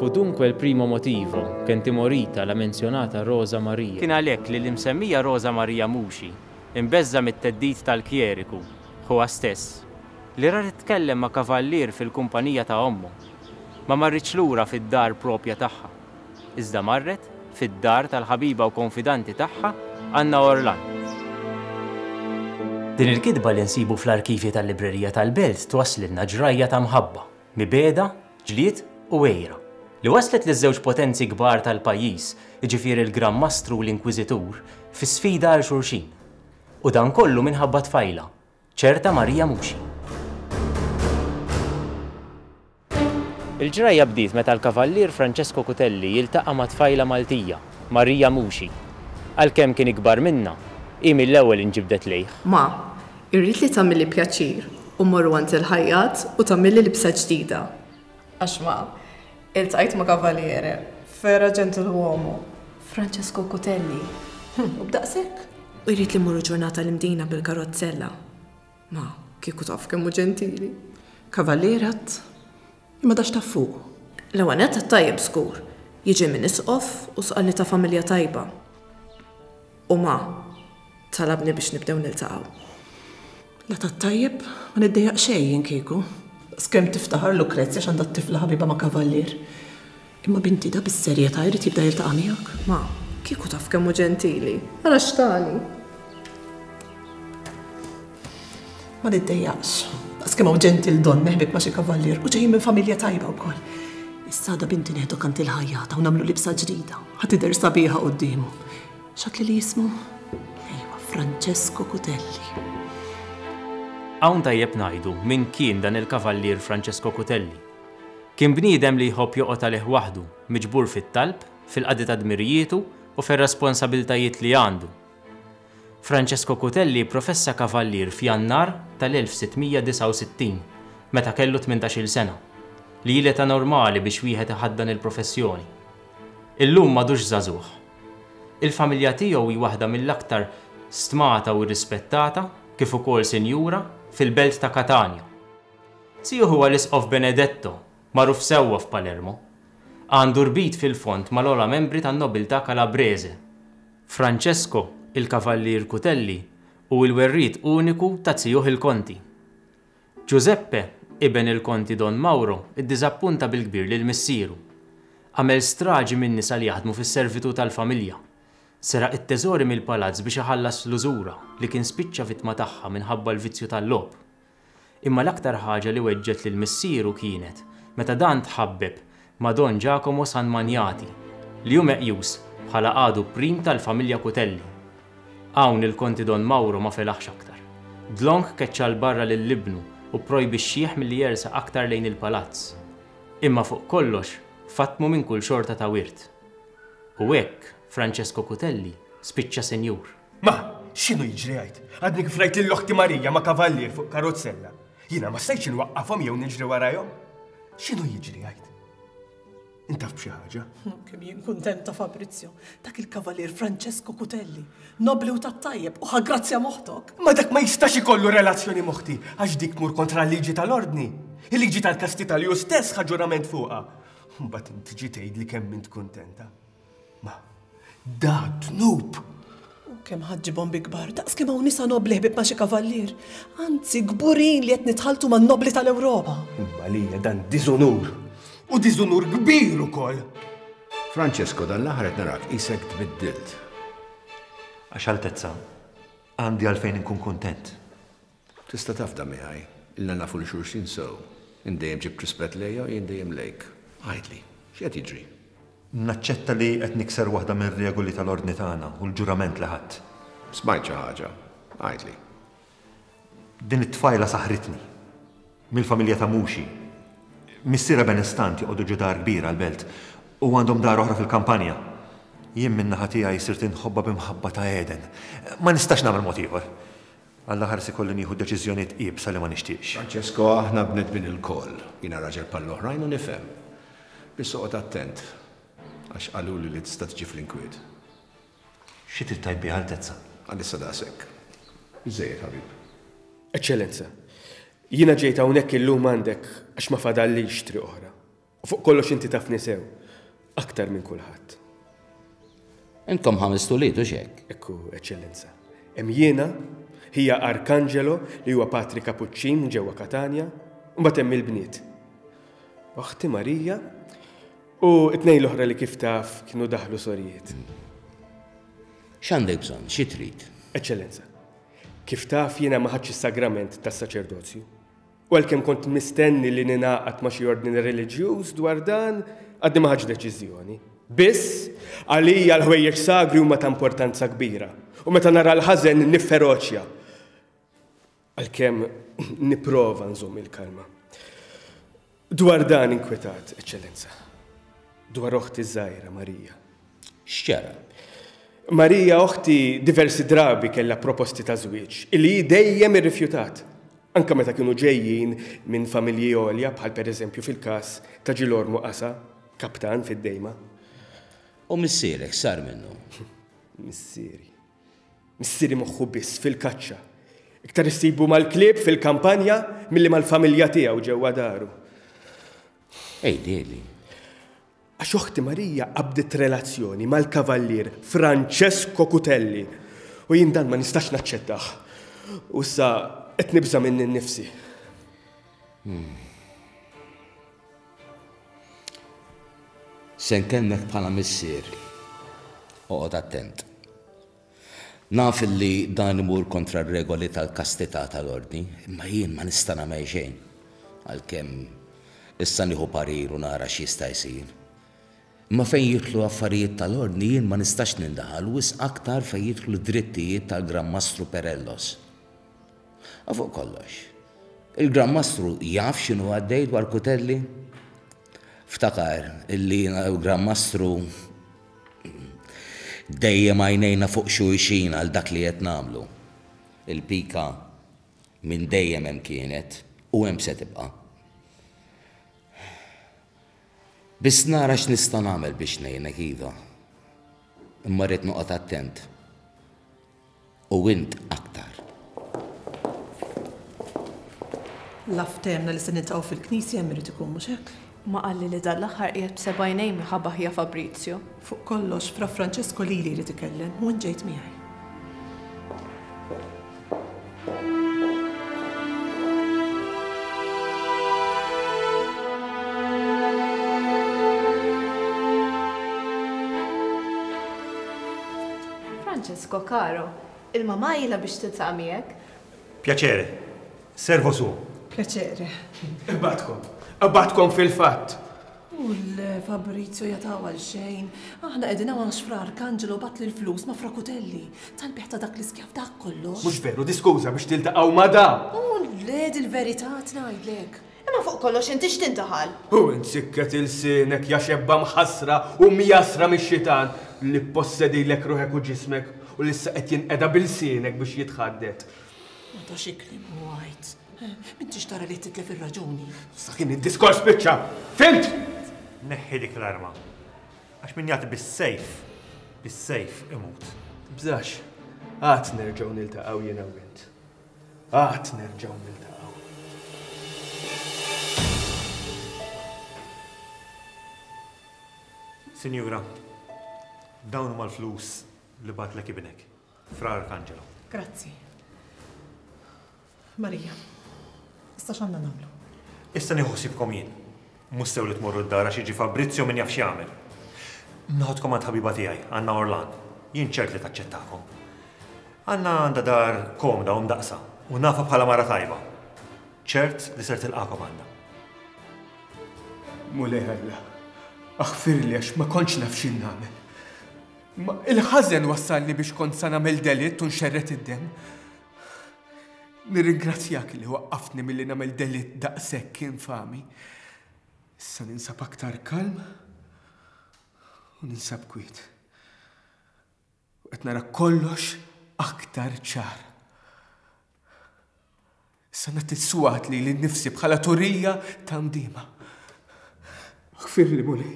Fu dunque il primo motivo, che ntimorita la menzionata Rosa Maria. Kien għalhekk li l-imsemmija Rosa Maria Muxi, imbeżża' mit-theddid tal-kjeriku, ħuha stess, li ra titkellem ma' kavallier fil-kumpanija ta' ommu, ma marritx lura fid-dar proprja tagħha, iżda marret fid-dar tal-ħabiba u konfidanti tagħha Anna Orlan. Din il-kitba li nsibu fl-arkivji tal-librerija tal-Belt twasslilna ġrajja ta' mħabba, mibegħda, ġlied u għira, li wasslet liż-żewġ potenzi kbar tal-pajjiż, jiġifieri l-Gran Mastru u l-Inkwiżitur, fi sfida għal xulxin. U dan kollu minħabba tfajla, Ċerta Maria Muxi. Il-ġrajja bdiet meta l-Kavallier Francesco Cutelli jiltaqa' ma' tfajla Maltija, Maria Muxi. Għalkemm kien ikbar minnha, hi mill-ewwel inġibdet lejh. Ma, irrid li tagħmilli pjaċir u mmorru għand il-ħajjat u tagħmilli libsa ġdida. Għax ma, iltqajt ma' kavaliere, fera ġentilwuomu, Francesco Cutelli, u b'daqshekk. U jrid li mmorru ġurnata l-Imdina bil-karozzella. Ma, kieku taf kemm hu ġentili. Kavalier għad, imma da x'taf fuqu? L-ewwel nett għat-tajjeb żgur, jiġi minn Isqof u sqallita familja tajba. u ma talabni biex nibdew niltaqgħu. La tat-tajjeb, ma niddejjaq xejn jien kieku. Daqskemm tiftaħar Lucrezia x'għandha t-tifla ħabiba ma' kavallier. Imma binti da bis-serjetà jrid jibda jiltaqa' miegħek? Ma, kieku taf kemm hu ġentili. Ara x'tani. Ma niddejjaqx. Daqs kemm hawn ġentil donn neħbik ma' xi kavallier u ġejjin minn familja tajba wkoll. Issa għada binti neħdu kant il-ħajjata u nagħmlu libsa ġdida. Ħa tidher sabiħa quddiemu. X'għadli li jismu? Ejwa, Francesco Cutelli. Hawn tajjeb ngħidu min kien dan il-kavallier Francesco Cutelli. Kien bniedem li jħobb joqgħod għalih waħdu, miġbur fit-talb, fil-qadi ta' dmirijietu u fir-responsabilitajiet li għandu. Francesco Cutelli pprofessa kavallier f'Jannar tal-1669, meta kellu tmintax-il sena, li hi l-età normali biex wieħed iħaddan il-professjoni. Illum m'għadux żagħżugħ. Il-familja tiegħu hi waħda mill-aktar stmata u rrispettata, kif ukoll sinjura, fil-belt ta' Katanja. Tiju huwa l-Isqof Benedetto, magħruf sewwa f'Palermo. Għandu rbit fil-fond mal-ogħla membri tan-nobiltà Kalabrese. Francesco, il-Kavallier Cutelli hu l-werriet uniku ta' tiuh il-Konti. Giuseppe, iben il-Konti Don Mauro, iddiżappunta bil-kbir lil missieru. Għamel straġi min-nisa li jaħdmu fis-servitu' tal-familja. Seraq it-teżori mill-palazz biex iħallas l-użura li kien spiċċa vittma tagħha minħabba l-vizzju tal-logħob. Imma l-aktar ħaġa li weġġgħet lil missieru kienet meta dan tħabbeb ma' Don Giacomo San Maniati, li hu meqjus bħala għadu prim tal-familja Cutelli. Hawn il-Konti Don Mauro ma felaħx aktar. Dlonk keċċa 'l barra lil ibnu u pprojbixxieh milli jersaq aktar lejn il-palazz. Imma fuq kollox fattmu minn kull xorta ta' wirt. U hekk Francesco Cutelli spiċċa sinjur. Ma, x'inhu jiġri għid? Għadni kif rajt lil oħti Marija ma' kavallier fuq karozzella. Jiena ma stajtx inwaqqafhom jew niġri warajhom. X'inhu jiġri għid? Intaf b'xi ħaġa? Kemm jien kuntenta Fabrizio, dak il-kavallier Francesco Cutelli, nobli u tat-tajjeb u ħagrazzja moħtok. Ma dak ma jistax ikollu relazzjoni moħti għax dik mur kontra l-liġi tal-ordni. Il-liġi tal-kasti tal-ju stess ħaġurament fuqha. Mbagħad inti ġi tgħid li kemm int kuntenta. Ma, da dnub! U kemm ħadġibhom bi kbar, daqs kemm hawn nisa nobli ħbib ma' xi kavallier. Anzi, kburin li qed nitħaltu man nobli tal-Ewropa. Imma li hija dan diżunur. U diżunur kbir ukoll. Francesco, dan l-aħħar qed narak isek tbiddilt. Għax Altezza, għandi għalfejn inkun kuntent. Tista' tafda miegħi. Ilna nafu 'l xulxin sew. Int dejjem ġibt rispett lejja u jien dejjem lejk. Għidli, x'qed jiġri? Naċċetta li qed nikser waħda mir-regoli tal-Ordni tagħna u l-ġurament li ħadt. Smajt xi ħaġa. Għidli. Din it-tfajla saħħritni. Mill-familja ta' Muxi. Missierha benestant joqogħdu ġo dar kbira għall-belt u għandhom dar oħra fil-kampanja. Jien min-naħa tiegħi sirt inħobbha b'imħabba ta' għeden. Ma nistax nagħmel mod ieħor. Għall-aħħar se jkolli nieħu deċiżjonijiet iebsa li ma nixtieqx. Francesco, Aħna bnedmin ilkoll. Jiena raġel bħall-oħrajn u nifhem. Biss oqgħod attent, għax qaluli li tista' tiġi fl-inkwiet. Xi trid tgħid biha, Altezza? Għalissa daqshekk. Biżżejjed, ħabib. Eċċellenza, jiena ġejt hawnhekk illum għandek għax ma fadallix triq oħra. Fuq kollox inti tafni sew, aktar minn kulħadd. Intom ħamest ulied, hux hekk? Ekku, Eċċellenza. Hemm jiena, hija Arkangelo li huwa patri Kapuċċin ġewwa Katanja, u mbagħad hemm il-bniet. Oħti Marija u t-tnejn l-oħra li kif taf kienu daħlu sorijiet. X'għandek bżonn, xi trid? Eċċellenza, kif taf jiena ma ħadx is-sagrament tas-saċerdozju. U għalkemm kont mistenni li ningħaqad ma' xi ordni reliġjuż dwar dan, għadni ma ħadtx deċiżjoni. Biss, għalija l-ħwejjeġ sagri huma ta' importanza kbira, u meta nara l-ħażen nifferoċja, għalkemm nipprova nżomm il-kalma. Dwar dan inkwetat, Eċċellenza, dwar oħti ż-żgħira Marija. X'ġara? Marija oħti diversi drabi kellha proposti ta' żwieġ li hi dejjem irrifjutat, anke meta kienu ġejjin minn familji għolja bħal pereżempju fil-każ ta' Ġilormu Qasa, kaptan fid-Dejma. U missierek x'sar minnu? Missieri. Missieri moħħu biss fil-kaċċa. Iktar issibu mal-klieb fil-kampanja milli mal-familja tiegħu ġewwa daru. Għidhieli. Għax oħti Marija qabdet relazzjoni mal-Kavallier Francesco Cutelli u jien dan ma nistax naċċettah. U issa qed nibża' minni nnifsi. Hmm. Se nkellmek bħala missier. Oqgħod attent. Naf li dan imur kontra r-regoli tal-kastità tal-Ordni, imma jien ma nista' nagħmel xejn, għalkemm issa nieħu parir u nara x'jista' jsir. Imma fejn jidħlu affarijiet tal-Ordni jien ma nistax nindaħal, wisq aktar fejn jidħlu d-drittijiet tal-Gran Mastru Perellos. U fuq kollox, il-Gran Mastru jaf x'inhu għaddej dwar Cutelli? Ftakar li jiena l-Gran Mastru Dejjem għajnejna fuq xulxin għal dak li qed nagħmlu. Il-pika minn dejjem hemm kienet u hemm se tibqa'. Biss nara x'nista' nagħmel biex ngħinek iva. Imma rrid noqgħod attent. u int aktar. La ftehemna li se niltaqgħu fil-knisja hemm irid ikun, mhux hekk? Ma qalli li dan l-aħħar qiegħed b'seba' għajnejn minn ħa Bahia Fabrizio? Fuq kollox, Fra Francesco lili jrid ikellem u int ġejt miegħi. Francesco caro, ilma mgħajla biex tiltaq' miegħek. Piacere. Servo suo. Piacere. Imbagħadkom. Imbagħadkom fil-fatt. U l Fabrizio jatgħu għal xejn. Aħna qegħdin hawn għax Fra Arcangelo bagħatli l-flus ma' Fra Cutelli. Tal-bejgħ ta' dak l-iskjav dak kollox. Mhux veru, di skuża biex tiltaqgħu ma' da! U le, dil-verità tgħidlek. Imma fuq kollox int ix tintaħal? U int sikket ilsienek, ja xebba mħassra u mjassra mix-xitan, li ppossedilek ruħek u ġismek, u li issa qed jinqeda b'ilsienek biex jitħaddet. Ma tax ikliem u għid. M'intix tara li qed titlef ir-raġuni. Sa kien id-diskors spiċċa. Fhimt? Neħħi dik l-arma. Għax min jagħti bis-sejf, bis-sejf imut. Tibżax. Għad nerġgħu niltaqgħu jiena u int. Għad nerġgħu niltaqgħu. Sinjura, dawn huma l-flus li bagħatlek ibnek, Fra Arcangelo. Grazzi. Marija, issa x'għandna nagħmlu? Issa nieħu ħsiebkom jien. Mhux sew li tmorru d-dar għax jiġi Fabrizio min jaf x'jagħmel. Noħodkom għand ħabiba tiegħi, Anna Orlan. Jien ċert li taċċettakom. Anna għandha dar komda u mdaqqsa u nafha bħala mara tajba. Ċert li ser tilqakom Anna. Mulej Alla, aħfirli għax ma kontx naf x'in nagħmel. Ma il-ħażen wassalni biex kont sa nagħmel delitt u nxerred id-demm. Nirringrazzjak li waqqaftni milli nagħmel delitt daqshekk infami. Issa ninsab aktar kalm u ninsab kwiet. U qed nara kollox aktar ċar. Issa nagħti swat li l-nifsi bħala turija ta' mdima. Ħfirli, Mulej,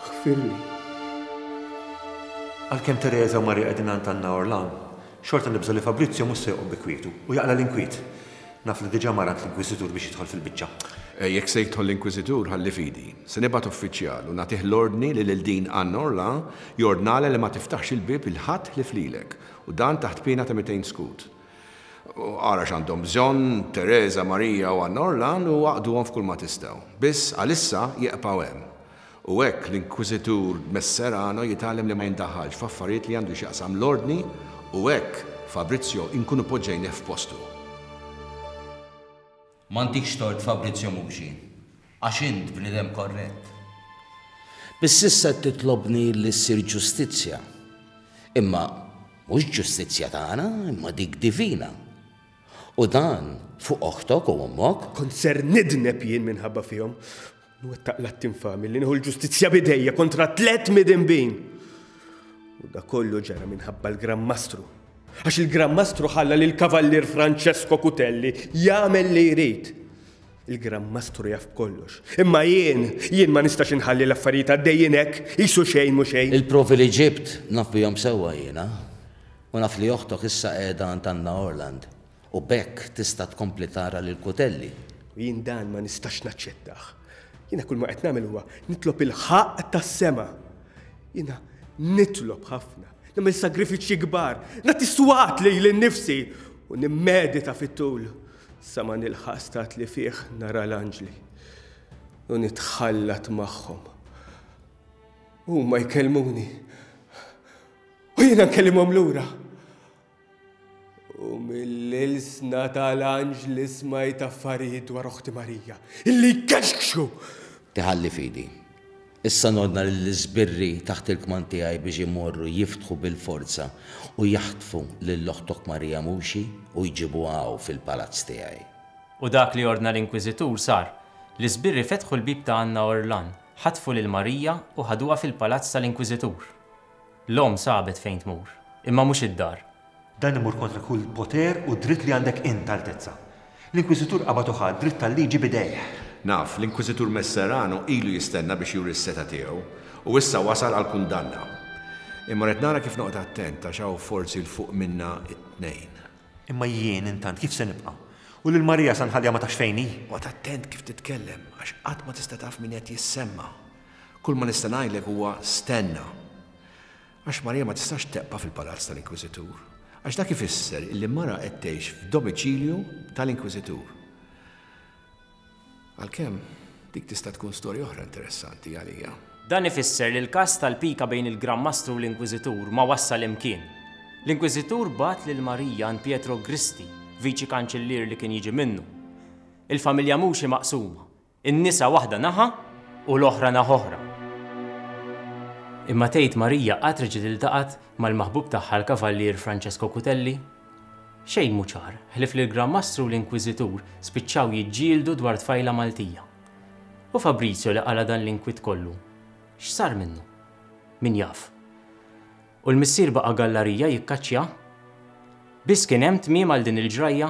ħfirli. Għalkemm Tereża u Marija qegħdin għand Anna Orlan, xorta nibża' li Fabrizio mhux se joqgħod bi kwietu u jaqla' l-inkwiet. Naf li diġà mar għand l-Inkwiżitur biex jidħol fil-biċċa. Jekk se jidħol l-Inkwiżitur ħalli f'idi. Se nibgħat uffiċjal u nagħtih l-ordni li lil din Anna Orlan jordnalha li ma tiftaħx il-bieb 'il ħadd ħlief lilek, u dan taħt piena ta' mitejn skud. Ara x'għandhom bżonn Tereża, Marija u Anna Orlan u aqduhom f'kulma tistgħu. Biss, għalissa, jieqpaw hemm. U hekk l-Inkwiżitur Messerano jitgħallem li ma jindaħħalx f'affarijiet li għandu x'jaqsam l-Ordni u hekk Fabrizio inkunu poġġejnieh f'postu. M'għandikx tort Fabrizio Muxi, għax int bniedem korrett. Biss issa qed titlobni li ssir ġustizzja. Imma mhux ġustizzja tagħna, imma dik divina. U dan fuq oħtok u ommok. Kont ser nidneb jien minħabba fihom, Nwettaq l-att infami li nieħu l-ġustizzja b'idejja kontra tliet midinbin. U da kollu ġara minħabba l-Gran Mastru. Għax il-Gran Mastru ħalla lil Kavallier Francesco Cutelli jagħmel li jrid. Il-Gran Mastru jaf b'kollox. Imma jien, jien ma nistax inħalli l-affarijiet għaddejjin hekk, qisu xejn mhu xejn. Il-provi li ġibt naf bihom sewwa jiena. U naf li oħtok issa qiegħda għand Anna Orland. U b'hekk tista' tkompli tara lil Cuttelli. Jien dan ma nistax naċċettah. Jiena kull ma qed nagħmel huwa nitlob il-ħaqq tas-sema. Jiena nitlob ħafna, nagħmel sagrifiċċji kbar, nagħti swat lili nnifsi u nimmedita fit-tul sa ma nilħaq stat li fih nara l-anġli u nitħallat magħhom. Huma jkellmuni u jiena nkellimhom lura. U mill-ilsna tal-anġli smajt affarijiet dwar oħti Marija, illi jkexkxu! Tiħalli fidi. Issa nordna lill-iżbirri taħt il-kmand tiegħi biex imorru jiftħu bil-forza u jaħtfu lil oħtok Marija Muxi u jġibuha hawn fil-palazz tiegħi. U dak li ordna l-inkwiżitur sar. L-iżbirri fetħu l-bieb ta' Anna Orlan, ħatfu lil Marija u ħaduha fil-palazz tal-inkwiżitur. L-omm sabet fejn tmur, imma mhux id-dar. Dan imur kontra kull poter u dritt li għandek int, Altezza. L-Inkwiżitur qabad u ħa d-dritt tal-liġi b'idejh. Naf, l-Inkwiżitur Messerano ilu jistenna biex juri s-setgħa tiegħu, u issa wasal għall-kundanna. Imma rrid nara kif noqgħod attent għax hawn forsi 'l fuq minna t-tnejn. Imma jien, intant, kif se nibqa'? U lil Marija sa nħalliha ma tafx fejn hi? Oqgħod attent kif titkellem, għax qatt ma tista' taf min qed jissemma. Kull ma nista' ngħidlek huwa stenna. Għax Marija ma tistax tebqa' fil-palazz tal-inkwiżitur, għax dak ifisser illi mara qed tgħix f'domiċilju tal-inkwiżitur. Għalkemm, dik tista' tkun storja oħra interessanti għalija. Dan ifisser li l-każ tal-pika bejn il-Gran Mastru u l-Inkwiżitur ma wassal imkien. L-Inkwiżitur bagħat lil Marija għand Pietro Gristi, Viċi Kanċillier li kien jiġi minnu. Il-familja Muxi maqsuma, In-nisa waħda naħa u l-oħra naħa oħra. Imma tgħid Marija qatt reġgħet iltaqgħet mal-maħbub tagħha l-Kavallier Francesco Cutelli? Xejn mhu ċar, ħlief li l-Gran Mastru u l-Inkwiżitur spiċċaw jiġġieldu dwar tfajla Maltija. U Fabrizio li qala' dan l-inkwiet kollu, x'sar minnu? Min jaf. U l-missier baqa' gallarija jikkaċċja? Biss kien hemm tmiem għal din il-ġrajja?